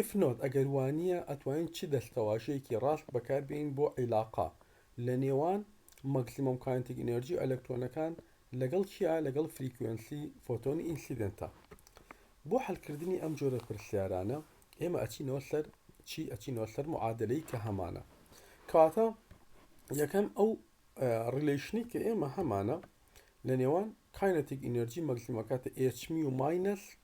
If not ئەگەر وانییە ئەتوانین چ دەستەواژەیەکی ڕاست بەکاربێنین بۆ عیلاقە لە نێوان ماکسیمۆم کاینتیک ئینێرجی و ئەلەکترۆنەکان لەگەڵ چیا لەگەڵ فریکوێنسی فۆتۆنی ئینسیدێنتە بۆ حەلکردنی ئەم جۆرە پرسیارانە ئێمە ئەچینەوە سەر چی ئەچینەوە سەر معادلەی کە هەمانە کەواتە یەکەم ئەو ڕیلیشنی کە ئێمە هەمانە لە نێوان کاینەتیک ئینەرجی مەکسیمەکاتە ئێچمی و ماینەس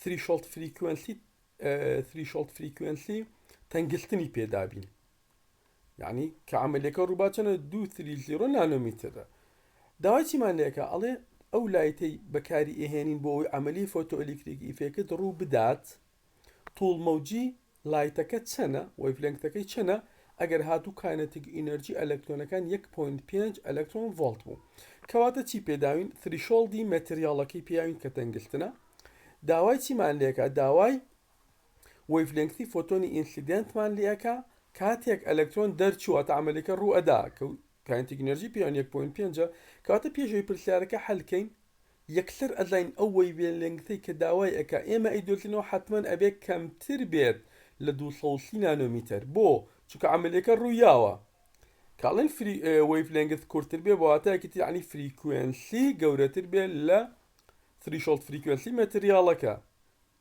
Threshold Frequency Threshold Frequency تەنگلتنی پێدابین یعنی کە عملەکە ڕووبا چەنە دو تری زیرۆ نانۆمیترە داوای چیمان لەکە ئەڵێ ئەو لایتەی بەکاری ئێهێنین بۆ ئەوی عملی فۆتۆلیکتریک ئیفێکت ڕوو بدات توڵ مەوجی لایتەکە چەنە؟ وەیڤلێنگتەکەی چەنە؟ ئەگەر هاتوو کاینەتیک ئینەرجی ئەلەکترۆنەکان یەک پۆینت پێنج ئەلەکترۆن ڤۆڵت بوو کەواتە چی پێداوین ثریشۆڵدی مەتریاڵەکەی پێاوین کە تەنگگرتنە داوای چیمان لێکا داوای وەیڤلێنگتی فۆتۆنی ئینسیدێنتمان لێ ئەکا کاتێک ئەلەکترۆن دەرچوو واتە عەمەلەکە ڕوو ئەدا کە کاینەتیک ئینەرجی پێاوین یەک پۆینت پێنجە کەواتە پێش ئەوەی پرسیارەکە حەل کەین یەکسەر ئەزانین ئەو وەیڤ لێنگسەی کە داوای ئەکا ئێمە ئەیدۆزینەوە حەتمەن ئەبێ کەمتر بێت لە دوو سەد و سی نانۆمیتەر بۆ؟ چونکە عەمەلیەکە ڕویاوە کە ئەڵێن فری وەیڤ لێنگس کورتر بێ بە واتایەکی تر یەعنی فریکوێنسی گەورەتر بێت لە ثریشۆڵد فریکوێنسی مەتریاڵەکە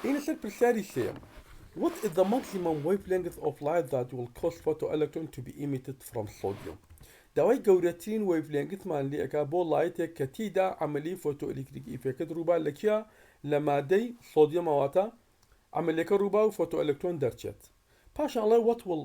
دێینە سەر پرسیاری سێیەم What is the maximum wavelength of light that will cause photoelectron to be emitted from sodium داوای گەورەترین وەیڤلێنگتمان لێ ئەکا بۆ ڵایتێک کە تێیدا عەمەلیەی فۆتۆئەلیکتریکی ئیفێکت ڕووبا لە کیا لە مادەی سۆدیۆمە واتە عەمەلێکە ڕووبا و فۆتۆئەلەکترۆن دەرچێت پاشان ئەڵێ What will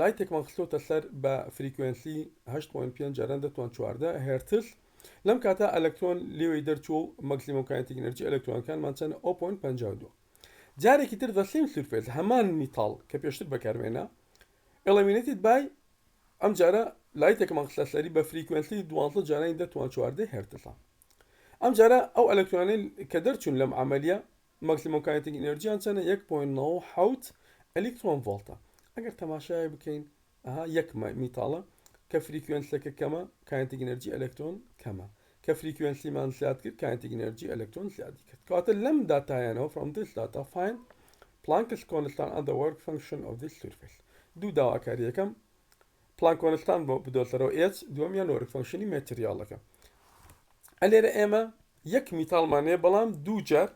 لایتێکمان خستۆتە سەر بە فریکوێنسی 8.5 جاران 10 توان 14 هێرتز لەم کاتە ئەلکترۆن لێوەی دەرچووە و مەکسیمۆم کاینتیک ئینەرجی ئەلکترۆنەکانمان چەنە 0.52 جارێکی تر the same surface هەمان میتاڵ کە پێشتر بەکارمێنا illuminated by ئەمجارە لایتێکمان خستە سەری بە فریکوێنسی 12 جارانی 10 توان 14 هێرتزە ئەمجارە ئەو ئەلکترۆنەی کە دەرچوون لەم عملیە ماکسیمۆم کاینتیک ئینێرجیان چەنە یەک پۆینت نەوەد و حەوت ئەلیکترۆن ڤۆڵتە ئەگەر تەماشای بکەین ئەها یەک میتاڵە کە فریکوێنسیەکە کەمە کاینتیک ئینێرجی ئەلەکترۆن کەمە کە فریکوێنسیمان زیاد کرد کاینتیک ئینێرجی ئەلەکترۆن زیادی کرد کەواتە لەم داتایانەوە from this data find Planck's constant and the work function of this surface دوو داواکاری یەکەم پلان کۆنستان بۆ بدۆزەرەوە ئێچ دووەمیان وەرگ فەنکشنی مەتریاڵەکە ئەلێرە ئێمە یەک میتاڵمان هەیە بەڵام دوو جار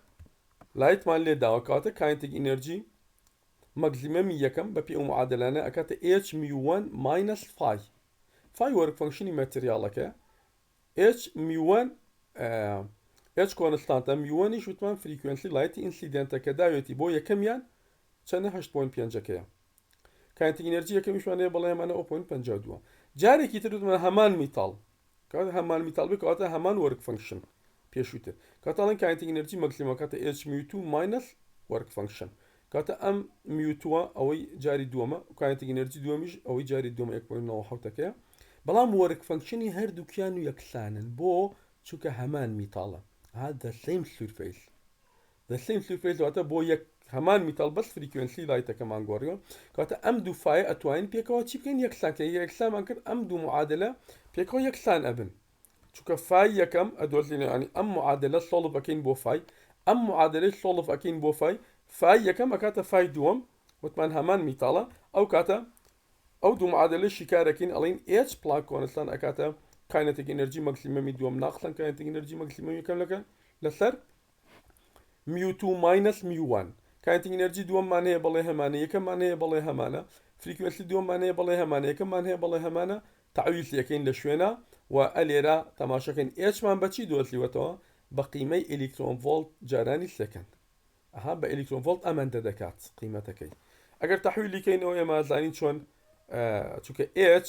لایتمان لێ داوە کەواتە کاینتیک ئینێرجی مەگزیمەمی یەکەم بە پێی ئەو معادلانە ئەکاتە ئێچ میو 1 ماینەس فای فای وۆرک فەنکشنی ماتریاڵەکەیە ئێچ میو 1 ئێچ کۆنستانتە میو 1 یش وتمان فریکوێنسی لایتی ئینسیدێنتە کە داوێتی بۆ یەکەمیان چەنە 8.5 ەکەیە کاینتیک ئینێرجی یەکەمیشمان هەیە بەڵام ئەمانە ئەو پۆینت پەنجا و دووە جارێکی تر وتمان هەمان میتاڵ کاتێ هەمان میتاڵ بێت کەواتە هەمان وەرک فەنکشن پێشووتر کەواتە ئەڵێن کاینتیک ئینێرجی مەکسیمەم کاتێ ئێچ میو توو ماینەس وەرک فەنکشن کاتە ئەم میوتوە ئەوەی جاری دووەمە کاینتیک ئینێرجی دووەمیش ئەوەی جاری دووەمە 1.9ەکەیە بەڵام وەرک فەنکشنی هەردووکیان و یەکسانن بۆ چونکە هەمان میتاڵە هذا سیم سورفیس the same surface واتە بۆ یەک هەمان میتاڵ بەس فریکوێنسی لایتەکەمان گۆڕیوە کەواتە ئەم دوو فایە ئەتوانین پێکەوە چی بکەین یەکسان کەین ئەگەر یەکسانمان کرد ئەم دوو معادلە پێکەوە یەکسان ئەبن چونکە فای یەکەم ئەدۆزینەوە یانی ئەم معادلە سۆڵڤ ئەکەین بۆ فای ئەم معادلەی سۆڵڤ ئەکەین بۆ فای فای یەکەم ئەکاتە فای دووەم وتمان هەمان میتاڵە ئەو کاتە ئەو دوو معادلە شیکارەکەین ئەڵین ئێچ پلاک کۆنستان ئەکاتە کاینەتێک ئەنرژی مەکسیمەمی دووەم ناقسان کاینەتێک ئەنرژی مەکسیمەمی یەکەم لەکە لەسەر میوتوو ماینەس میو وان کاینتینگ ئینەرجی دووەممان هەیە بەڵێ هەمانە یەکەممان هەیە بەڵێ هەمانە فریکوێنسی دووەممان هەیە بەڵێ هەمانە یەکەممان هەیە بەڵێ هەمانە تەعویض لێکەین لە شوێنە و ئە لێرە تەماشەکەین ئێچمان بە چی دۆزیوەتەوە بە قیمەی ئەلیکترۆن ڤۆڵت جارانی سێکەند ئەها بە ئەلیکترۆن ڤۆڵت ئەمەندە دەکات قیمەتەکەی ئەگەر تەحویلی کەینەوە ئێمە زانین چۆن چونکە ئێچ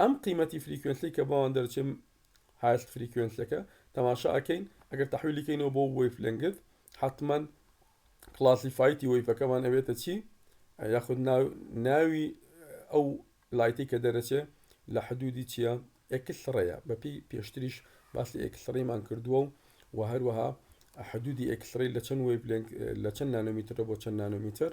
ئەم قیمەتی فریکوێنسیەی کە بۆمان دەرەچێ هایست فریکوێنسیەکە تەماشا ئەکەین ئەگەر تەحویلی کەینەوە بۆ وەیڤ لێنگث حەتمەن کلاسیفایتی وەیڤەکەمان ئەبێتە چی یاخود ناوی ئەو لایتی کە دەرەچێ لە حدودی چییە ئەکسڕەیە بەپی پێشتریش باسی ئەکسڕیمان کردووە و و هەروەها حدودی ئەکسڕی لە چەند وەیڤ لە چەند نانۆمیترە بۆ چەند نانۆمیتر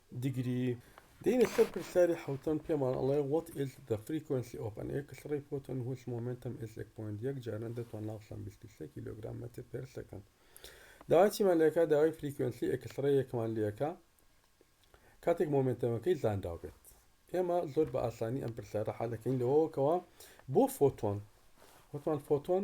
دیگری، دێینە سەر پرسیاری حەوتەم پێمان ئەڵێ What is the frequency of an X-ray photon whose momentum is 1.1 جاران دەتوان ناو سەم 23 کیلۆگرام مەتر پێر سەکەند داوای چیمان لێکا داوای فریکوێنسی ئێکسڕەیەکمان لێکا کاتێک مۆمنتەمەکەی زانراو بێت ئێمە زۆر بە ئاسانی ئەم پرسیارە حالەکەین لەوەوە کەەوە بۆ فۆتۆن وتمان فۆتۆن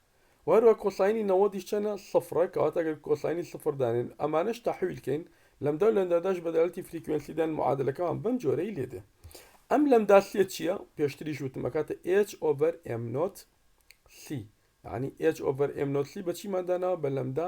و هەروەها کۆساینی 90 یش چەنە سفرە کەواتە گەر کۆساینی سفر دانێن و ئەمانەش تەحویل کەین لەمدا و لەمداداش بە دەلالەتی فریکوێنسی دان معادەلەکەمان بەم جۆرەی لێ دێ ئەم لەمداسیە چیە پێشتریش وتم ئەکاتە ئێچ ئۆڤەر ئێم نۆت سی یانی ئێچ ئۆڤەر ئێم نۆت سی بە چیمان داناوە بە لەمدا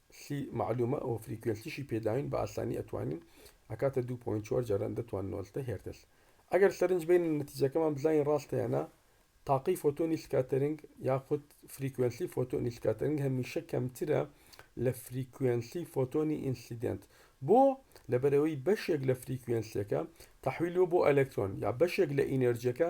سی معلومە ئەوە فریکوێنسیشی پێداوین بە ئاسانی ئەتوانین ئەکاتە 2.4 جاران دەتوان نۆلتە هێرتز ئەگەر سەرنج بین نەتیجەکەمان بزانین ڕاستە یانە تاقی فۆتۆنی سکاتەرنگ یاخود فریکوێنسی فۆتۆنی سکاتەرنگ هەمیشە کەمترە لە فریکوێنسی فۆتۆنی ئینسیدنت بۆ لەبەرەوەی بەشێک لە فریکوێنسیەکە تحویلوە بۆ ئەلکترۆن یا بەشێک لە ئینەرجەکە